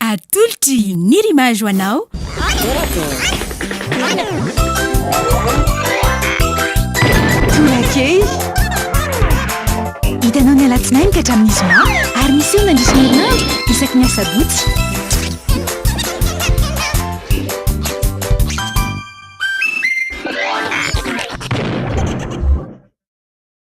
Atolotry ny Rimage ho anao. Torakely. Hitanao ny alatsinainy ka hatramin'ny zoma ary miseho mandritra ny herinandro isaky ny asabotsy.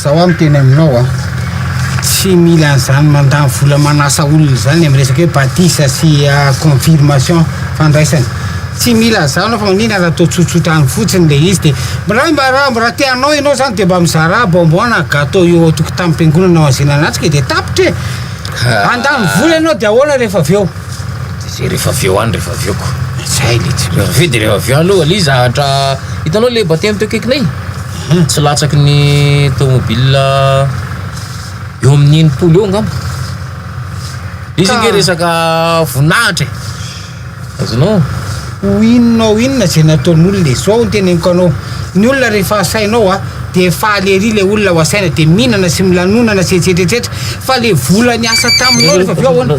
Zao aho miteny aminao a, tsy mila an'izany mandany vola manasa olona izany amin'ny resaka hoe batisa sy ah, confirmation fandraisana. Tsy mila an'izany aho fa maninona raha toa tsotsotra any fotsiny ilay izy dia raha mba raha mba raha te hanao ianao izany dia mba mizarà bonbon na gâteau eo an-tokotanim-piangonana ao anzianan'atrika e dia tapitra e! Handany vola ianao dia ahoana rehefa avy eo? Zay refa avy eo any refa avy eo ko zay le tsy refa avy eo de refa avy eo any aloha ly zahatra hitanao le bataille teo akaikinay mhm. tsy latsaky ny tomobile eo amin'ny enimpolo eo angamba izy nge resaka voninahitra e azonao Ho inona ho inona izay nataon'olona e! Zao no teneniko anao, ny olona rehefa asainao a, dia faly ery ilay olona ho asaina, dia mihinana sy milanonana sy etsetra etsetra, fa ilay vola niasa taminao rehefa avy eo ahoana?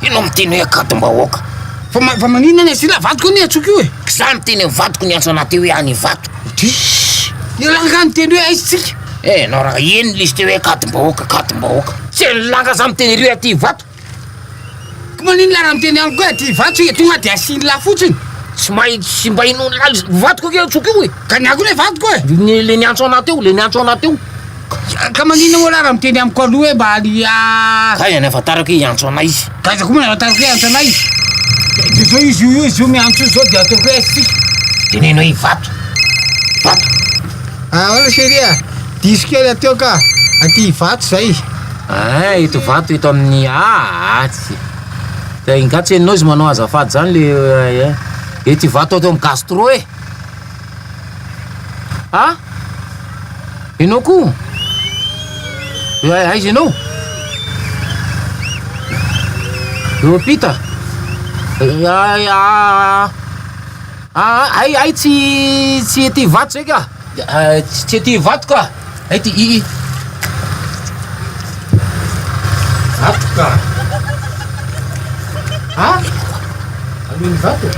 Enao miteny hoe akadom-bahoaka. Fa fa maninona anie sila vadiko anie atsoiko io e. Za niteny am vadiko niantso anah teo hoe any Ivato. Diss. Ialahy angaha niteny hoe aiza tsika. Eh enao raha eny ny lisite hoe akadom-bahoaka akadom-bahoaka. Tsy eny lahy angaha za miteny ery hoe aty Ivato. Ko maninona raha miteny amiko hoe aty Ivato tsika tonga de asiany lahy fotsiny. Tsy mahay tsy mba ino ny lahy vadiko anie atsoiko io e. Ka ny ahy ko le vadiko e. Le niantso anah teo le niantso anah teo. Ka maninona moa lah raha miteny amiko aloha hoe mba any ah. Taiza ny ahafantarako hoe hiantso anay izy? Taiza koa moa ny ahafantarako hoe hiantso anay izy? Dia izao izy io izy io miantso izao dia ataoko hoe aiza tsika? Teneno hoe Ivato. Ivato. Ahoana chérie a? Diso kely hateo ka. Aty Ivato izay. Aa eto Ivato eto amin'ny aa atsy. Dia ingahy Tsenonao izy manao azafady izany le eh, eto Ivato ato amin'ny gastro e. Ha? Ianao koa? Aiza ianao? Eo ampita? Hay, hay, tsy, tsy ety Ivato izay ka! Tsy ety Ivato ka! Ety ii. Ato ka. A! Aloha ny vato.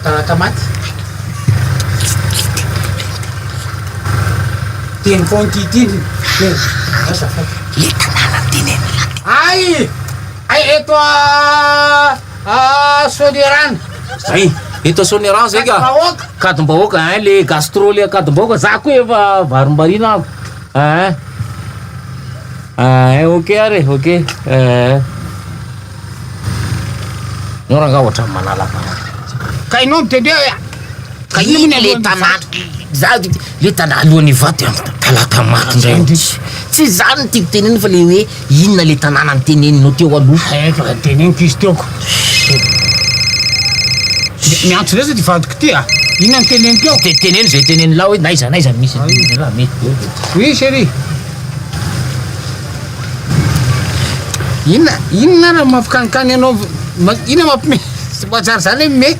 Taratra maty. Teny foana ity teny. Asa fa. Leta nanan-tenenina. Ay! Ay eto a! Ah Soanierana zay eto Soanierana zay ka kadim-bahoaka hein le gastro le kadim-bahoaka za koa efa varimbariana ako hein hein ok ary e ok hein no rangah ohatran'ny malalaka ka ianao mitendry hoe ka ina le tanàna za le tanàna alohan'ny vato talaka maty indray tsy zany no tiako tenenina fa le hoe Inona le tanàna niteneninao teo aloha? Ay efa teneniko izy teo ko. Miantso lesy ty vadiko ty a! Inona no teneniko eo? Te teneno izay teneno lahy hoe n'aiza n'aiza misy an'iny lehilahy mety be de. Oui chérie. Inona inona ary mampikanikany anao inona mampime tsy voajaly zany hoe me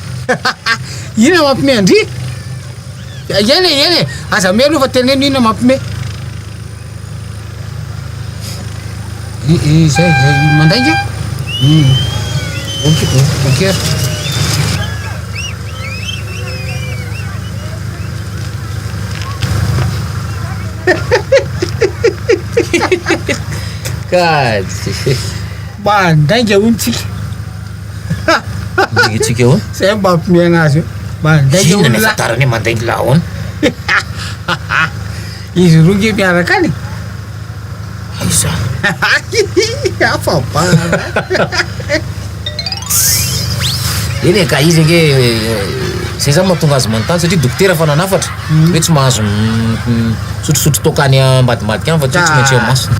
inona mampime an-dry? Eny e eny e aza me aloha fa teneno inona mampime. Izay mandainga? Hmm. Ok, ok. Kay. Mandainga hono tsika. Mandainga tsika hono. Zay mba ampimiagna azy eo. Mandainga hono. Inona ny ahafantarany hoe mandainga lahono? Izy roa nge miaraka any e. Iza? Afa bala. Eny e, ka izy ange zay zany mahatonga azy manontany satria dokotera fa nanafatra mm. hoe tsy mahazo misotrosotro toaka any ambadimbadika any fa tsy hoe tsy maintsy eo masina.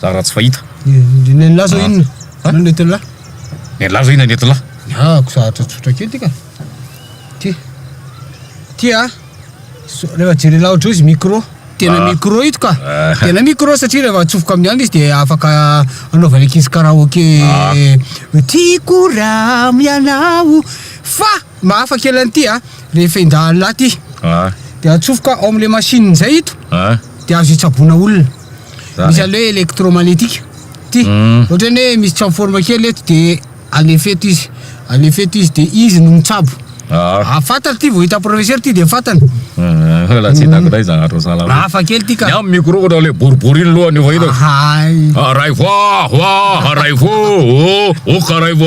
Zara tsy fahita. Nenlah zao inona? An? Inona nentinlah? Nenlah zao inona nentinlah? Niahako zahatra tsotra kely ty ka. Ty. Ty a. So- Rehefa jerenlah ohatry izy micro. Tena Ah. micro ito ka. Ah. Tena micro satria rehefa atsofoka amin'ny andro izy dia afaka anaovan'ny ankizy karaoke. Ah. Tiako raha mianao fa Mahafa kely an'ity a, rehefa endahalina ty dia atsofoka ao amin'ilay machine zay ito dia azo itsaboana olona. Misy an'ilay hoe electromagnetique ty, ohatrany hoe misy transforme kely eto dia alefa eto izy, alefa eto izy dia izy no mitsabo. Raha fantatra ty vao hitan'i professeur ty dia fantany. Hafa kely ty ka. Ny amin'ny micro ohatrany ilay boribory iny lohany efa hita. Hay. Araivo a, ho a, araivo o, o, ok araivo.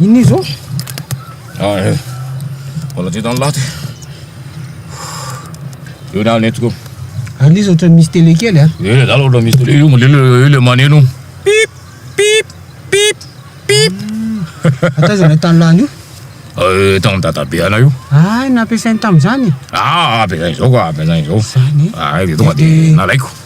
Inona io zao? Ah, eh. Mbola dia tany laty. Eo na nentiko. Ary izy ohatran'ny misy télé kely a. Ah. Eh, zala ohatran'ny misy télé io, mole io le maneno. Pip pip pip pip. Atazana tany lany io. Eh, tamin'ny dadabe ana io. Ah, nampiasainy tamin'izany. Ah, ampiasainy zao ka, ampiasainy zao. Zany. Ah, dia tonga dia nalaiko.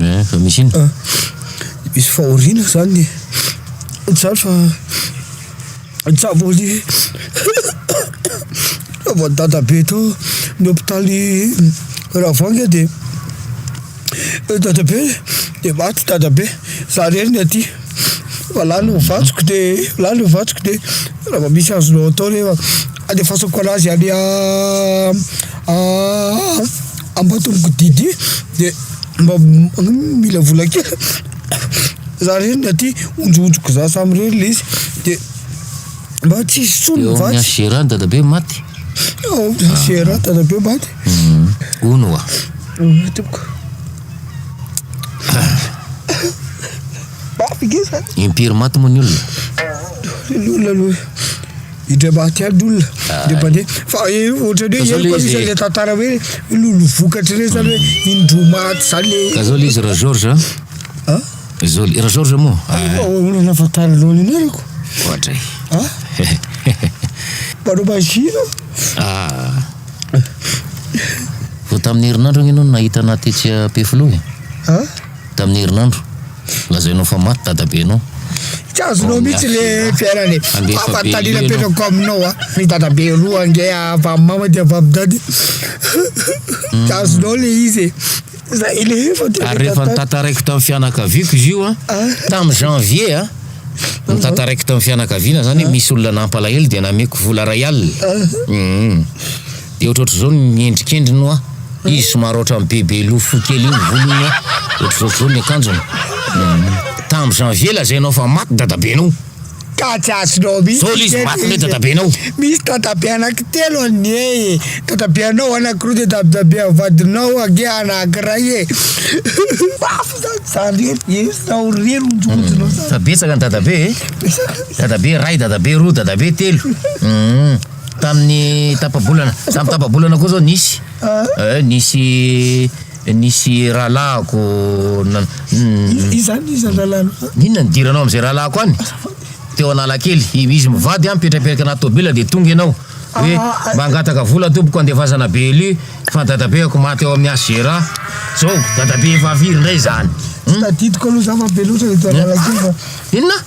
Eh, fa misy inona? Misy fahoriana zany e Tsary fa tsary vao le vao dadabe tao ny hopitaly Ravangy dia Eh dadabe de maty dadabe, za rery ny aty fa lany ny vatsoko de lany ny vatsoko de raha vao misy azonao atao re fa andefasako an'azy any Ambatomiko Didi de mba mila vola kely za rery ny aty, onjohonjoko za samy rery le izy de. Mba tsy hisy intsony ny vatsy. Eo amin'ny HGRA ny dadabe maty? Eo amin'ny HGRA ny dadabe maty. Hono oa. Hono tompoko. Mafy nge zany. Impiry maty moa ny olona? Ny olona aloha indray maty ihany ny olona. Indray mandeha. Fa ohatran'ny hoe ela koa misy an'ilay tantara hoe lolo vokatra ireny zany hoe indroa maty zany le. Ka zao le izy Ra Georges a. Zol, i Rajaorj moa? Ah, olona efa tanoloany anao reko. Ohatra e. Ah? Mpanao maizina. Ah. Vao tamin'ny herinandro agne no nahita anà tetsy Ampefiloha e. Ah? Tamin'ny herinandro. Lazainao fa maty dadabenao. Tsy azonao mihitsy le fiainana e. Fahafantarina apetrako aminao a. Ny dadabe roa ange avy amin'ny mama dia avy amin'ny dada. Tsy azonao le izy e. Ary rehefa nitantaraiko tamin'ny fianakaviako izy io an, tamin'ny janvier an, nitantaraiko tamin'ny fianakaviana zany hoe misy olona nampalahelo dia nameko vola iray alina. Hum. Dia ohatrohatr'izao ny endrikendriny hoa. Izy somary ohatran'ny bebe loha fohy kely iny volony hoa. Ohatrohatr'izao ny akanjony. Hum. Tamin'ny janvier lazainao fa maty dadabenao. Ka tsy azonao mihitsy. Zao le izy maty ndray dadabe anao. Misy dadabe anaky telo anie e. Dadabe anao anaky roa de dadabe an vadinao ange anaky ray e. Mafy zany zany rery e. Zao rery onjongonjonao zany. Fa betsaka ny dadabe e. Dadabe ray, dadabe roa, dadabe telo. Hum. Tamin'ny tapa-bolana, tamin'ny tapa-bolana koa zao nisy. Eh, nisy Nisy rahalahiko nan. Iza any izany rahalahinao zany? Inona ny diranao amin'izay rahalahiko any? Azafady. Teo Analakely, izy mivady an, mipetrapetraka anaty tôbila dia tonga ianao hoe mba hangataka vola tompoko handefasana BLU fa dadabeako maty ao amin'ny HGR. Zao, dadabe efa very indray izany. Tsy tadidiko aloha za fa be loatra ireto analakely fa. Inona?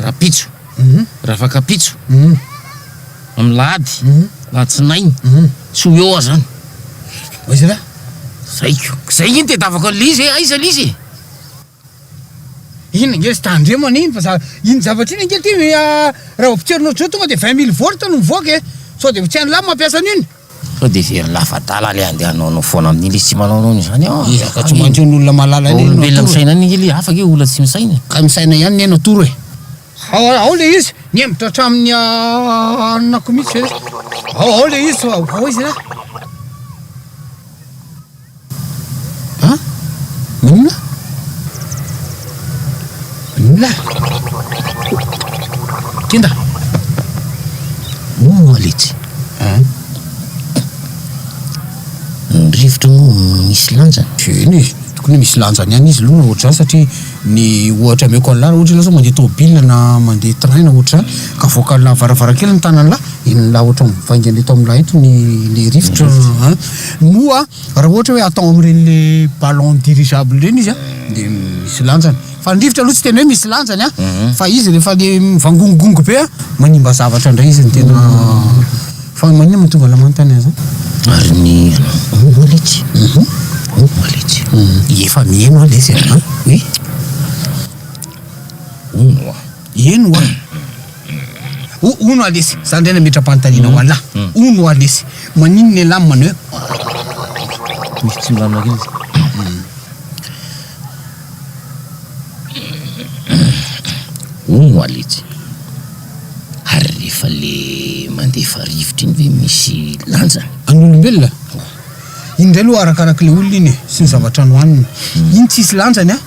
Rapitso, Ravakapitso, Amlahady, Alatsinainy, tsy ho eo aho zany. Aiza lah? Zay ko. Zay anie ny tedavako an'ilay izy e, aiza ilay izy e? Iny ange tsy tandremana iny fa za, iny zavatra iny ange ty raha ho potserina ohatr'izao tonga dia vingt mille volts no mivoaka e, sao dia ho tsy an'lah mampiasa an'iny. Sao dia very lafadala ilay andeha hanao anao foana amin'iny izy tsy manao anao an'izany an! Ezaka tsy maintsy ny olona malala indray no atoro e! Olombelona misaina any angely e! Hafa ange olona tsy misaina e! Ka misaina ihany ne no atoro e! Ao ao ilay izy! Nihemotra hatramin'ny hanonako mihitsy ve? Ao ao ilay izy! Ao ao izy ra! An? Inona? Inona? Kenda! Moa letsy. An? Ny rivotra moa misy lanjany? Eny e, tokony misy lanjany ihany izy aloha ohatr'izany satria ny ohatra ameko an'lah raha ohatra ianao izao mandeha tomobilina na mandeha train na ohatr'izany ka avoakan'lah varavarankely ny tanan'lah, enon'lah ohatra mivaingana eto amin'lah eto ny ilay rivotra an! Moa raha ohatra hoe atao amin'ireny le ballon dirigeable ireny izy an, dia misy lanjany. Fa ny rivotra aloha tsy tena hoe misy lanjany an, fa izy rehefa le mivangongongo be an, manimba zavatra indray izy no tena, fa maninona moa tonga lamany tany an zany? Ary ny anao, omba le tsy, omba le tsy. Efa mihaino an le sy an. Oun oa. Hihaino oa. O Ono alesy, za ndray nametra-panontaniana ho anlah, Ono alesy, maninona ialahy no manao hoe Misy tsy milamina kely izy. Ono aletsy, ary rehefa le mandefa rivotra iny ve misy lanjany? An'olombelona? Iny ndray aloha arakarak'le olona iny e, sy ny zavatra nohaniny. Iny tsisy lanjany an!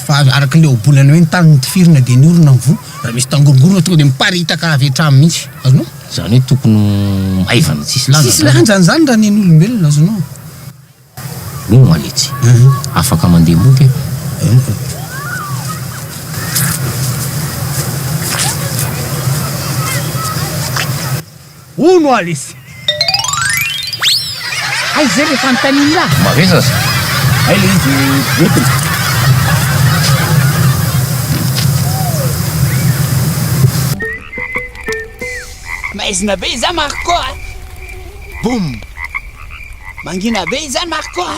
Fa araka ilay ohabolana hoe ny tany notifirina dia ny orona mivoha, raha misy tangorongorona tonga dia miparitaka avy hatrany mihitsy. Azonao? Izany hoe tokony ho maivana tsisy lanjany. Tsisy lanjany izany raha nen'olombelona. Azonao? Hoy ny maletsy. Afaka mandeha mody aho. Hono aho lesy. Hay izay ilay fanontanian'i Ra. Marina zay. Hay ilay izy entiny. Maizina be izany Marco a! Boum! Mangina be izany Marco a!